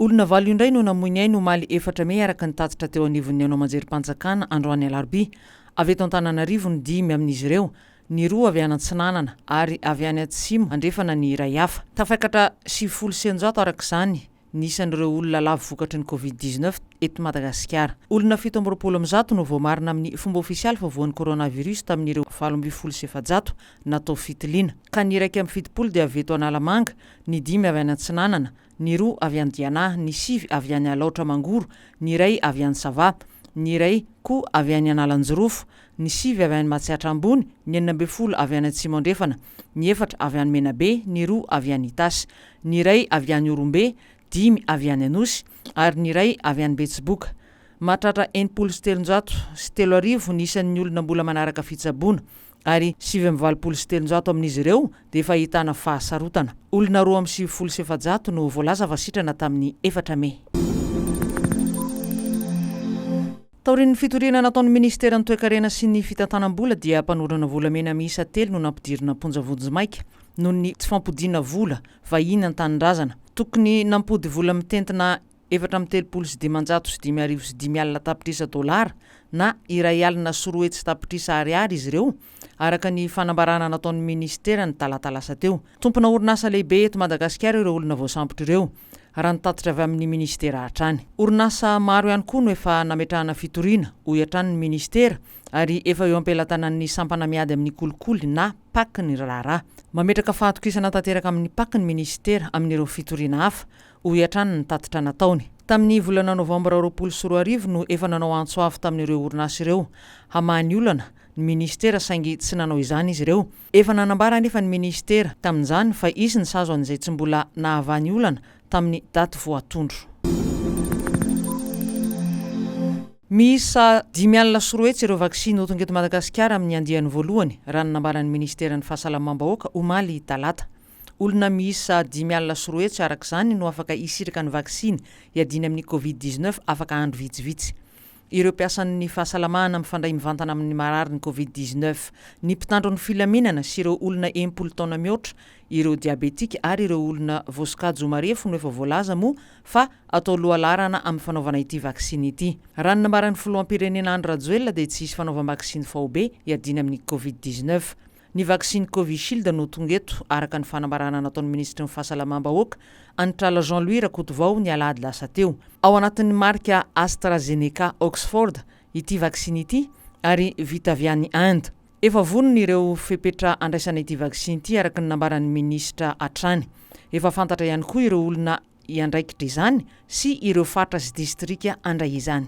Olona valo indray no namoy ny ainy omaly efatra mey araka ny tatitra teo anivon'ny haino aman-jerim-panjakana androany alarobia. Avy eto Antananarivo ny dimy amin'izy ireo, ny roa avy any atsinanana ary avy any atsimo andrefana ny iray hafa. Tafaikatra sivifolo sy eninjato araka izany ny isan'ireo olona lavo vokatry ny Covid dix neuf eto Madagasikara. Olona fito amby roapolo amin'ny zato no voamarina amin'ny fomba ofisialy fa voan'ny coronavirus tamin'ireo valo ambin'ny folo sy efajato natao fitiliana, ka ny iraika amby fitopolo dia avy eto Analamanga, ny dimy avy any Atsinanana, ny roa avy any Diana, ny sivy avy any Alaotra Mangoro, ny iray avy any Sava, ny iray koa avy any Analanjirofo, ny sivy avy any Matsiatra Ambony, ny enina ambin'ny folo avy any Atsimo Andrefana, ny efatra avy any Menabe, ny roa avy any Itasy. ny iray avy any Orombe, dimy avy any Anosy ary ny iray avy any Betsiboka. Mahatratra enimpolo sy telonjato sy telo arivo ny isan'ny olona mbola manaraka fitsaboana ary sivy amby valopolo sy telonjato amin'izy ireo dia efa ahitana fahasarotana. Olona roa amby sivifolo sy efajato no voalaza fa sitrana tamin'ny efatra mey. Taorian'ny fitoriana nataon'ny minisiteran'ny Toekarena sy ny fitantanam-bola dia mpanondrana volamena miisa telo no nampidirina am-ponja vonjimaika noho ny tsy fampodiana vola vahiny an-tanindrazana. Tokony nampody vola mitentina efatra amby telopolo sy dimanjato sy dimy arivo sy dimy alina tapitrisa dolara na iray alina sy roa hetsy tapitrisa ariary izy ireo araka ny fanambarana nataon'ny minisitera ny talata lasa teo. Tompona orinasa lehibe eto Madagasikara ireo olona voasambotra ireo, raha ny tatitra avy amin'ny minisitera hatrany. Orinasa maro ihany koa no efa nametrahana fitoriana, hoy hatrany ny minisitera, ary efa eo am-pelatanan'ny sampana miady amin'ny kolikoly na pac ny raharaha. Mametraka fahatokisana tanteraka amin'ny pac ny minisitera amin'ireo fitoriana hafa, hoy hatrany ny tatitra nataony. Tamin'ny volana novambra roapolo sy roa arivo no efa nanao antso avo tamin'ireo orinasa ireo hamaha ny olana, ny minisitera saingy tsy nanao izany izy ireo. Efa nanambara anefa ny minisitera tamin'izany fa hisy ny sazy ho an'izay tsy mbola nahavaha ny olana tamin'ny daty voatondro. Miisa dimy alina sy roa hetsy ireo vaksiny ho tonga eto Madagasikara amin'ny andiany voalohany, raha ny nambaran'ny minisiteran'ny Fahasalamam-bahoaka, omaly talata. Olona miisa dimy alina sy roa hetsy araka izany no afaka hisitraka ny vaksiny hiadiana amin'ny Covid dix-neuf afaka andro vitsivitsy. Ireo mpiasan'ny fahasalamana mifandray mivantana amin'ny mararin'ny Covid dix neuf, ny mpitandro ny filaminana sy ireo olona enim-polo taona mihoatra, ireo diabetika ary ireo olona voasokajy ho marefo no efa voalaza moa fa atao lohalaharana amin'ny fanaovana ity vaksiny ity. Raha ny nambaran'ny filoham-pirenena Andry Rajoelina dia tsy hisy fanaovam-baksiny faobe hiadiana amin'ny Covid dix neuf. Ny vaksiny Covishield no tonga eto, araka ny fanambarana nataon'ny minisitry ny Fahasalamam-bahoaka, Anitrala Jean Louis Rakotovao, ny alahady lasa teo. Ao anatin'ny marika AstraZeneca Oxford ity vaksiny ity ary vita avy any Inde. Efa vonona ireo fepetra handraisana ity vaksiny ity, araka ny nambaran'ny minisitra hatrany. Efa fantatra ihany koa ireo olona hiandraikitra izany sy ireo faritra sy distrika handray izany.